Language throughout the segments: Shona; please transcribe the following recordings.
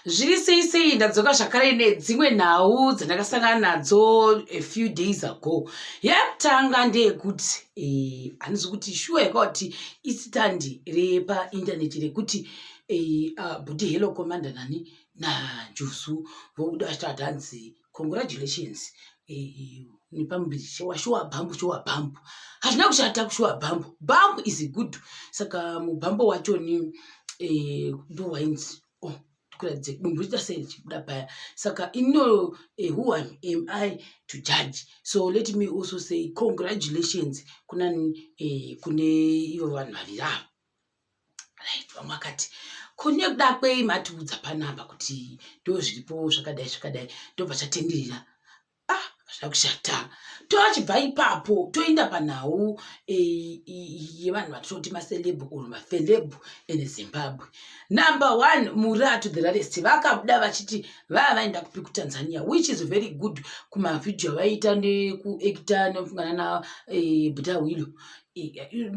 zviri sei sei ndadzoka zvakare nedzimwe nhau dzandakasangana nadzo a few days ago yekutanga ndeyekuti eh, handizi e, kuti shuwa yakauti isitandi repaintaneti rekuti e, eh, uh, ah, budi hello commander nani nanjuzu vokuda vachitavati hanzi congratulations e, eh, nepamuviri chewashuwa bhambu shuwa bhambu hazvina kushata kushuwa bhambu bhambu is good saka mubhambo wacho ni e, ndowainzi oh, kuratidze munhu uchiita sei ndichibuda paya saka ino eh, who am, am i to judge so let me also say congratulations kuna eh, kune ivo vanhu vaviri avo right vamwe vakati kune kuda kwei matiudza panapa kuti ndo zviripo zvakadai zvakadai ndobva chatenderera ah hazvina kushata toachibva ipapo toenda panhau eh, yevanhu vatinoti macelebhu or mafelebhu in zimbabwe number one muraa to the rarest vakabuda vachiti vaa vaenda kupi kutanzania which is very good kumavhidhiyo avaiita nekuekita nefungana na eh, buda hwilo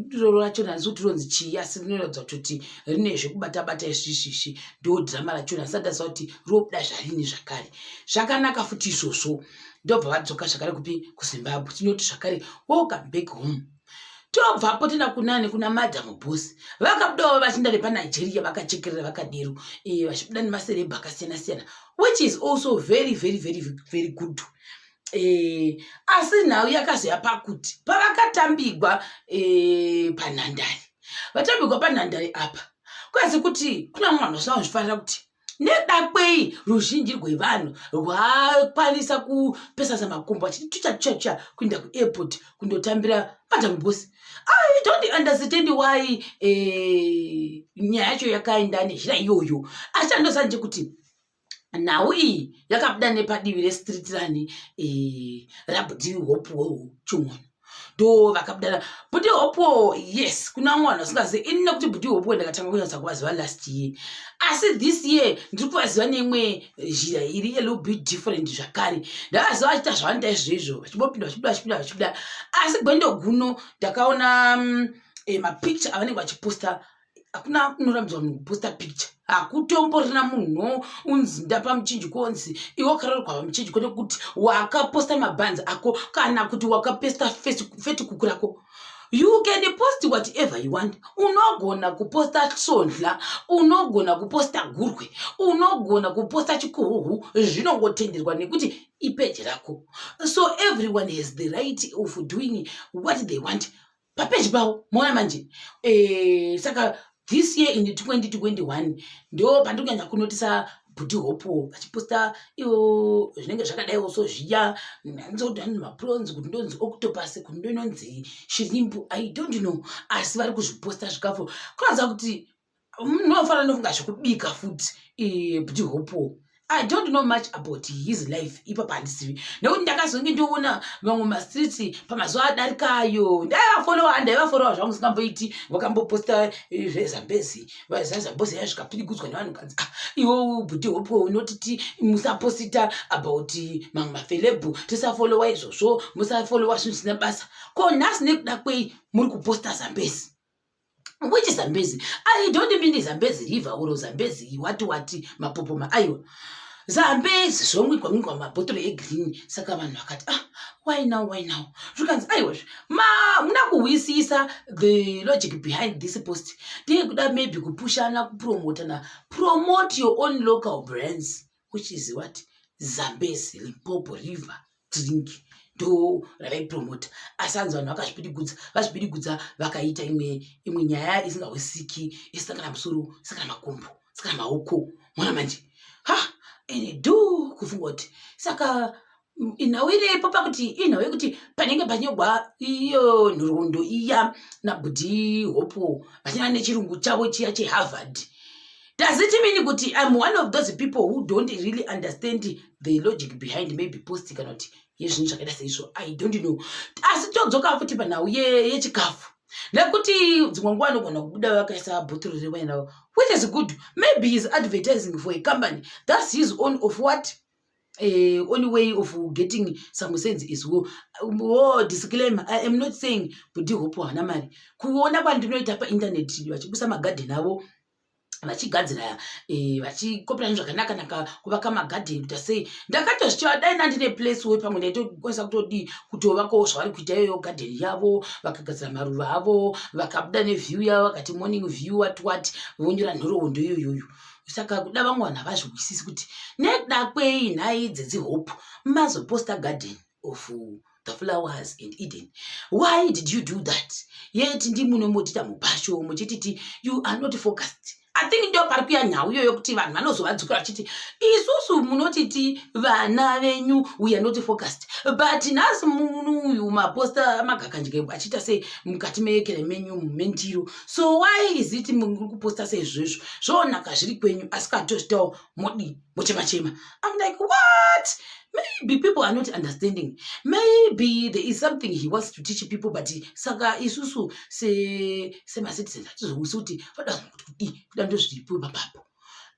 diro rachona handisi kuti ronzi chii asi rinoratidza kutoti rine zvekubata bata isvisvisvi ndo dhirama rachona handisati ndaziva kuti robuda zvarini zvakare zvakanaka futi izvozvo ndobva vadzoka zvakare kupi kuzimbabwe tinoti zvakare welcome back home tobvapo tenda kunani kuna madam bos vakabudawo vachinda nepanigeria vakachekerera vakadero eh, vachibuda nemaserebha akasiyana siyana which is also very very very very good e, asi nhau yakazoya pakuti pavakatambigwa e, panhandare vatambigwa panhandare apa kwaizi kuti kuna mwana zvinava zvifanira kuti nedakwei ruzhinji rwevanhu rwakwanisa kupesasa makumbo achiti tuchatsvatsva kuenda kuairport kundotambira madam bosi i don't understand why eh, nyaya yacho yakaenda nenzira iyoyo asi chandosanje kuti nhau iyi yakabuda nepadivi restreet rani e, rabudi hopuwewo chimwana ndo vakabudana budi hopo yes kuna mwana usingazivi ini nekuti budi hopo ndakatanga kunyatsa kuvaziva last year asi this year ndiri kuvaziva neimwe zhira iri yelittle bit different zvakare ndavaziva vachiita zvavanoita izvoizvo vachibopinda vachibuda vachibuda vachibuda asi gwendo guno ndakaona um, e, mapicture avanenge vachiposta hakuna unorambidza munhu kuposta picture hakutomborina munhu unzi ndapa muchinji konzi iwe ukarorwa pamuchinji kwete kuti wakaposta mabhanzi ako kana kuti wakaposta feti kuku rako you can post whatever you want unogona kuposta sondla unogona kuposta gurwe unogona kuposta chikuhuhu zvinongotenderwa nekuti ipeji rako so everyone has the right of doing what they want papeji pavo moona manje e, saka this year in 2021 ndo pandiri kunyanya kunotisa bhuti hopo vachiposta ivo zvinenge zvakadaiwo so zviya ndanzoti vanhu mapronzi kuti ndonzi octopus kuti ndononzi shirimbu i don't know asi vari kuzviposta zvikafu kunoziva kuti ndinofanira ndofunga zvekubika futi eh, bdi hopo i don't know much about his life ipapa handisivi nekuti ndakazonge ndoona vamwe mastriti pamazuva adarikayo ndaivafolowa ndaivafolowa zvangu singamboiti vakamboposta eh, zvezambezi zazambozi yaya zvikapirigudzwa nevanhu kanzi ah, iwo budi hopo unotiti musaposita about mamwe mafelebhu tisafolowa izvozvo musafolowa zvinhu zvisina basa ko nhasi nekuda kwei muri kuposta zambezi which zambezi i don't mean zambezi river or zambezi wati wati mapopoma aiwa zambezi zvomwigwa mwigwa mabhotoro egreen saka vanhu vakati ah why now why now zvikanzi aiwazve ma muna kuhwisisa the logic behind this post ndeye kuda maybe kupushana kupromotana promote your own local brands which is what zambezi limpopo river drink ndo ravaipromota asi hanzi vanhu vakazvipidigudza vazvipidigudza vakaita imwe imwe nyaya isingahwisiki isakana musoro isakana makumbo isakana maoko mwana manje ha ene do kufunga kuti saka nhau irepo pakuti inhau yekuti panenge panyogwa iyo nhoroondo iya nabudi hopo vachina nechirungu chavo chiya cheharvard does it mean kuti im one of those people who don't really understand the logic behind maybe post kana kuti yezvinhu zvakaita seizvo i don't know asi todzoka futi panhau yechikafu ye nekuti dzimwe nguva anogona kubuda vakaisa bhotoro rewaina which is good maybe is advertising for a company thats his own of what uh, only way of getting some sense is wo wo disclaimer i am not saying kuti hope hana mari kuona kwandinoita painternet vachibusa magadhen avo vachigadzira eh, vachikopirana zvakanaka naka kuvaka magadheni kuita sei ndakatozvitiva dai nandine place wo pamwe ndaitokwanisa kutodii kutovakawo zvavari kuita iyoyo gadheni yavo vakagadzira maruva avo vakabuda neview yavo vakati morning view wat wat vonyora nhoroondo iyoyoyo saka kuda vamwe vanhu havazvihwisisi kuti nekuda kwei nhai dzedzihope mazoposta garden of the flowers and eden why did you do that yet ndimunomotita mubhasho muchititi you are not focused i think ndo pari kuya nhau iyoyo kuti vanhu vanozovadzukira vachiti isusu munotiti vana venyu weare not focused but nhasi munhu uyu maposta magakandye achita se mukati meekere menyu mentiro so why is it muri kuposta seizvozvo zvoonaka zviri kwenyu asi katozvitawo modi mochema chema im like what maybe people are not understanding maybe there is something he wants to teach people but saka isusu semacitizens hatizousi kuti voda kuti kudii kuda ndozviripo ipapapo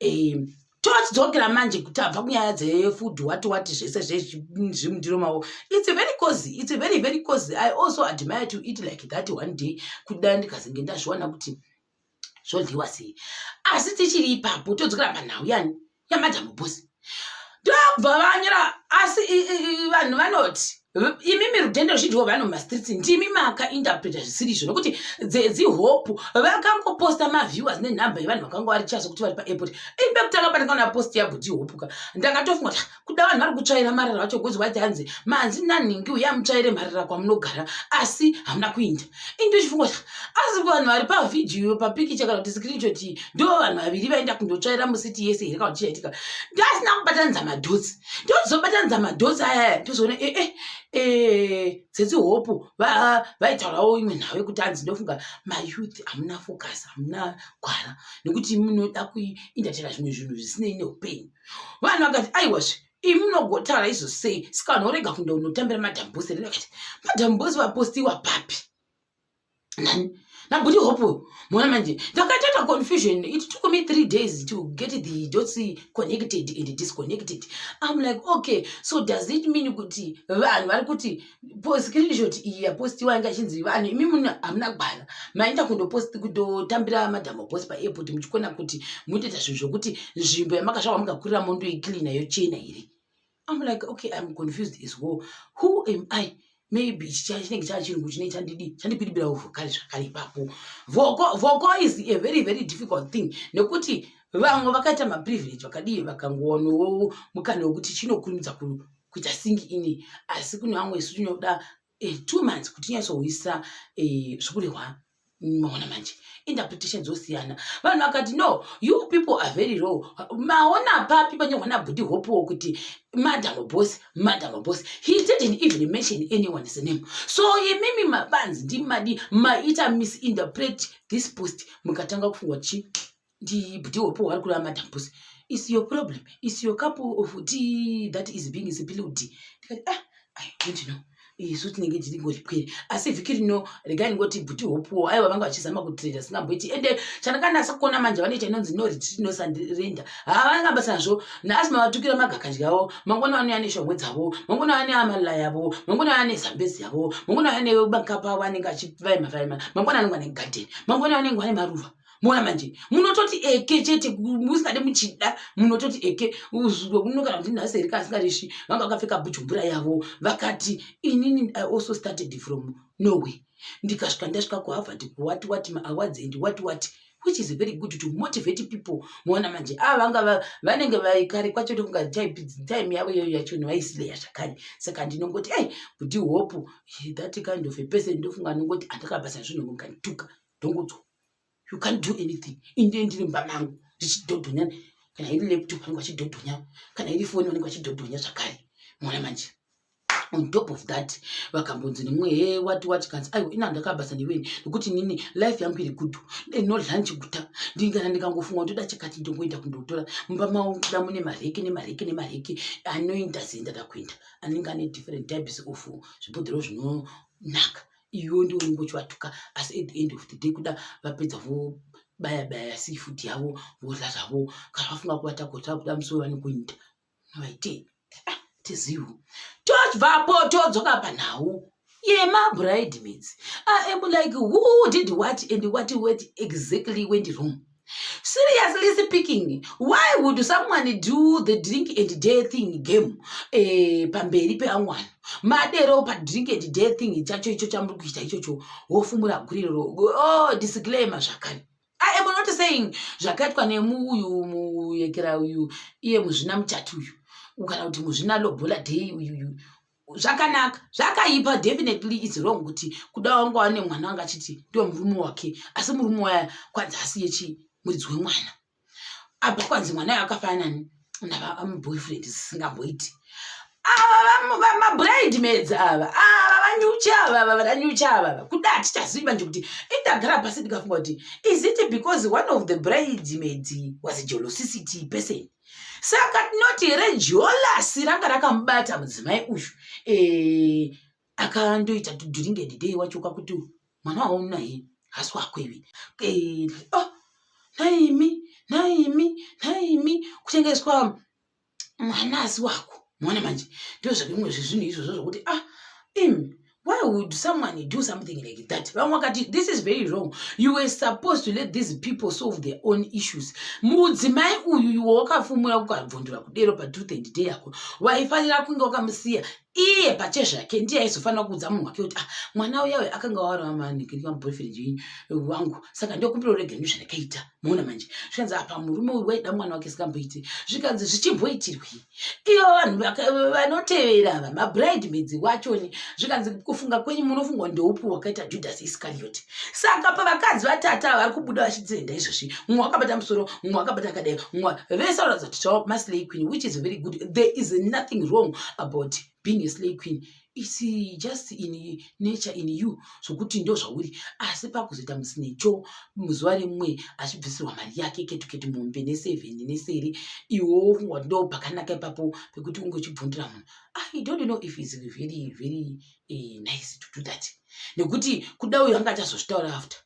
um tochidzokera manje kuti abva kunyaya dzefood wati wati zvese zvezvimundiro mavo its very cozy its very very cozy i also admire to eat like that one day kuti dai ndikazenge ndazviwana kuti zvodyiwa sei asi tichiri ipapo todzokera panhau yani yamadhamu bosi ndokubva vanyira asi vanhu vanoti imi mirudhende ruzhinji wevanhu mumastreets ndimi maka interpreta zvisiri izvo nokuti dzedzihope vakangoposta maviewers nenhamba yevanhu vakanga vari chaso kuti vari paairport ini pekutanga pandingaona post yabhudhi hopuka ndakatofunga kuti kuda vanhu vari kutsvaira marara vacho gozi wati hanzi manzi nanhingi uya mutsvaire marara kwamunogara asi hamuna kuinda ini ndochifunga kuti asi vanhu vari pavhidhiyo papikicha kana kuti screenshot ndo vanhu vaviri vaenda kundotsvaira musiti yese here kana kuti chaitika ndasina kubatanidza madhotsi ndozobatanidza madhozi ayaya tozoona ee eh, ee eh, eh, tsetse hopu vaitaurawo imwe nhau yekuti anzi ndofunga mayouth hamuna focus hamuna gwara nekuti munoda kuindatera zvimwe zvinhu zvisinei neupenyu vanhu vakati aiwazve imi munogotaura izvo sei saka vanhu vorega kunda unotambira madhambose rinoakati madhambose vapostiwa papi nani nabudi hope mona manje ndakatoita confusion it took me three days to get the dots connected and disconnected im like okay so does it mean kuti vanhu vari kuti screenshot iyi yapostiwa inga chinzi vanhu imi muna hamuna kugwana maenda kundopost kutotambira madhamo post paairport muchikona kuti mutoita zvinhu zvokuti nzvimbo yamakasvaka mukakurira mondoicleana yochena here I'm like, okay, I'm confused as well. Who am I? Maybe chinenge chaa chinhu chine chandidi chandipiribira uvhokari zvakare ipapo. Voko voko is a very very difficult thing nekuti vamwe vakaita maprivilege vakadii vakangowanawo mukana wekuti chinokurumidza kuita sing ini asi kune vamwe isu tinoda eh, two months kuti nyatsouyisa eh, zvikurehwa maona manje interpretation dzosiyana vanhu vakati no you people are very low maona papi panyorwa nabhudi hopewo kuti madam boss madam boss he didn't even mention anyone's name so imimi mabanzi ndimadi maita misinterpret this post mukatanga kufungwa chi ndibdi hopo wari kureva madam pusi is your problem is your cup of tea that is being spilled ndikati ah i don't know isu tinenge tiri ngoripwere asi vhiki rino regai ndingoti bhuti hopuwo aiwa vanga vachizama kutreda singamboiti ende chandakanasa kuona manje vanoita inonzi no retreat no sandirenda haa vanga basa nazvo naasi mavatukira magakadya avo mangona vanouya neshongwe dzavo mangona vane amalila yavo mangona vane zambezi yavo mangona vane bakapa avo anenge achivaima vaima mangona anenge ane garden mangona vanenge vane maruva mona manje munototi eke chete musingade muchida munototi eke unokana kuti nhasi erika asingareshi vanga vakapfeka bujumbura yavo vakati inini i also started from norway ndikasvika ndasvika kuhavard kuwati wati maawards and wati wati which is very good to motivate people moona manje ava ah, vanga vanenge vaikare kwacho tokunga time yavo iyoyo yacho vaisileya zvakare saka ndinongoti ei kuti hope that kind of a person ndofunga anongoti andakabasa zvinhu mukanituka ndongodzwa you can't do anything inde ndiri mumba mangu ndichidhodhonya kana iri laptop vanenge vachidhodhonya kana iri foni vanenge vachidhodhonya zvakare mona manje on top of that vakambonzi nemwe he wati wati kanzi aiwa ina ndakabasa neweni nekuti nini life yangu iri good no lunch guta ndingana ndikangofunga kuti dachakati ndongoenda kundotora mumba mavo kuda mune mareke nemareke nemareke anoinda zenda ndakuenda anenge ane different types of zvibhodhero zvinonaka iwe ndiwe unenge uchivatuka asi at the end of the day kuda vapedza vobaya baya seafood yavo vodla zvavo kana vafunga kuvata kota kuda musoro vanokuita vaitei ah, tizivo tobvapo todzoka panhau yemabridemaids ah, am like who did what and what wet exactly went wrong seriously speaking why would someone do the drink and day thing game eh, pamberi peamwana madero padrink and day thing chacho icho chamuri kuita ichocho wofumura guriroro oh, disclaimer zvakare i am not saying zvakaitwa nemuuyu muyekera uyu iye muzvina muchati uyu kana kuti muzvina lobola day uyuyu zvakanaka zvakaipa definitely is wrong kuti kuda wanga wane mwana wanga achiti ndiwe murume wake asi murume waya kwanzi asiye chii muridzi wemwana apa kwanzi mwana yo akafanani navaboyfriend zisingamboiti mabrid maids ava ava vanyuchi ava ava vananyuchi ava ava kuda hatichazivi manje kuti indagara pasi ndikafunga kuti is it because one of the brid maids was a jolosicity person saka tinoti here jolasi ranga rakamubata mudzimai uyu e, akandoita tuduringe ndidei wacho kwakuti mwana waona he hasi wako ivi e, oh, naimi naimi naimi kutengeswa mwana asi wako mwana manje ndozvakimwe zvezvinhu izvozvo zvokuti ah imi why would someone do something like that vamwe vakati this is very wrong you were supposed to let these people solve their own issues mudzimai uyu iwe wakafumura kukabvundura kudero patruth and day yako waifanira kunge wakamusiya iye pache zvake ndiye aizofanira kuudza munhu wake kuti ah mwana uyawe akanga waramanikiamboyfriend wangu saka ndokumbira urege ndu zvandakaita muona manje zvikanzi apa murume uyu waida mwana wake sikamboiti zvikanzi zvichimboitirwei ivo vanhu vanotevera ava mabride medzi wachoni zvikanzi kufunga kwenyu munofungwa ndeupi wakaita judhasi iskariot saka pavakadzi vatata vari kubuda vachitenda izvozvi mumwe wakabata musoro mumwe wakabata akadai mumwe vese vanoratidza kuti tava maslay queen which is very good there is nothing wrong about being a slay queen its just in nature in you zvokuti ndo zvauri asi pakuzoita musinecho muzuva rimwe achibvisirwa mari yake ketuketi mombe neseven neseri iwo fungwa ndo pakanaka ipapo pekuti unge uchibvundira munhu i don't know if its very very uh, nice to do that nekuti kuda uyo anga achazozvitaura after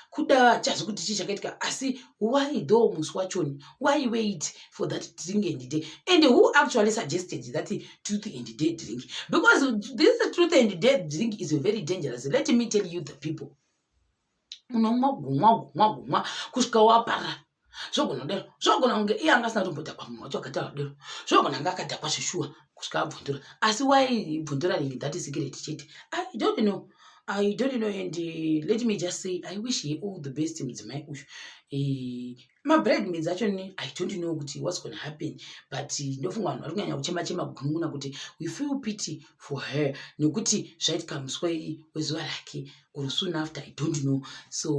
kuda hachazi kuti chii chakaitika asi why though musi wachoni why wait for that drink and day and who actually suggested that truth and day drink because this truth and day drink is very dangerous let me tell you the people unomwa gumwa gumwa gumwa kusvika wapara zvogona kudero zvogona kunge iye anga asina tombodhakwa munhu wacho akataura kudero zvogona anga akadhakwa zveshuwa kusvika abvundura asi waibvundura ringi that secret chete i don't know i don't know and uh, let me just say i wish he all the best mudzimai uyu eh, mabread maids acho ni i don't know kuti what's gonna happen but eh, ndofunga vanhu vari kunyanya kuchema chema kugununguna kuti we feel pity for her nekuti zvaitika muswa wezuva rake or soon after i don't know so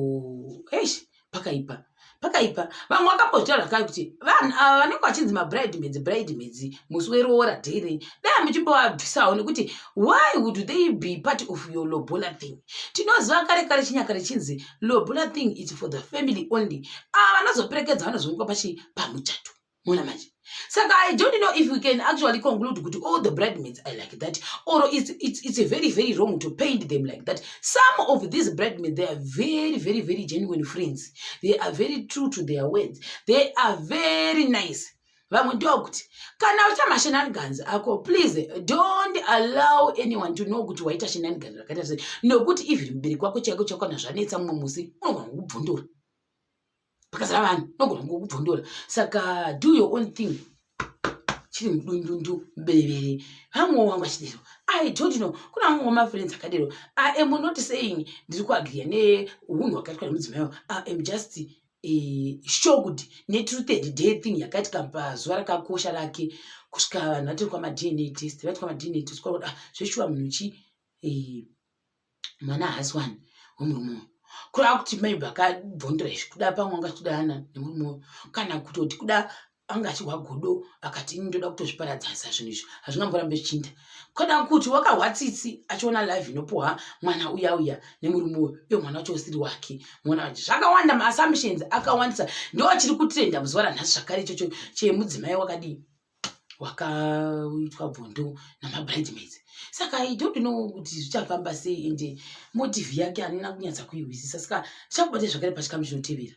eish pakaipa pakaipa vamwe vakambotaura zvakare kuti vanhu ava vanenge vachinzi mabride medzi bride medzi musi weroora dheirei dai muchimbovabvisawo nekuti why would they be part of your lobola thing tinoziva kare kare chinyakare chinzi lobola thing is for the family only ava vanozoperekedza vanozonga pachi pamuchato mona manje saka i don't know if we can actually conclude kuti all the bridemaids are like that or it's, it's, it's a very very wrong to paint them like that some of these bridemaids they are very very very genuine friends they are very true to their words they are very nice vamwe ndokuti kana uita mashenanigans ako please don't allow anyone to know kuti waita shenanigans rakaita sei nokuti even mubereki wako chaiko chakwana zvanetsa mumwe musi unogona kukubvundura pakazara vanhu nogona ngokubvondora saka do your own thing chiri mudundundu mbevere vamwewo wangu achidero i don't know kuna vamwe wamafriends akadero i am not saying ndiri kuagriya neunhu hwakaitwa nemudzimai wavo i am just eh, shocked netruthed day thing yakati kampazuva rakakosha rake kusvika vanhu vatiri kwamadna test vati kwamadna test kwakuda ah, zveshuwa munhu chi eh, mwana haasi wani wemurume uyu kurava kuti mai vakabvondera izvi kuda pamwe anga achida ana nemurume uyu kana kutoti kuda anga achihwa godo akati ini ndoda kutozviparadzasa zvinhu izvi hazvingamborambe zvichiinda kana kuti wakahwa tsitsi achiona live inopuhwa mwana uya uya nemurume uyu iyo mwana wacho usiri wake mwana wacho zvakawanda maassumptions akawandisa ndo achiri kutenda muzuva ranhasi zvakare ichocho chemudzimai wakadii wakaitwa bvondo namabridemaids saka i don't know kuti zvichafamba sei ende motive yake anina kunyatsa kuihwisisa saka tichakubate zvakare pachikamu chinotevera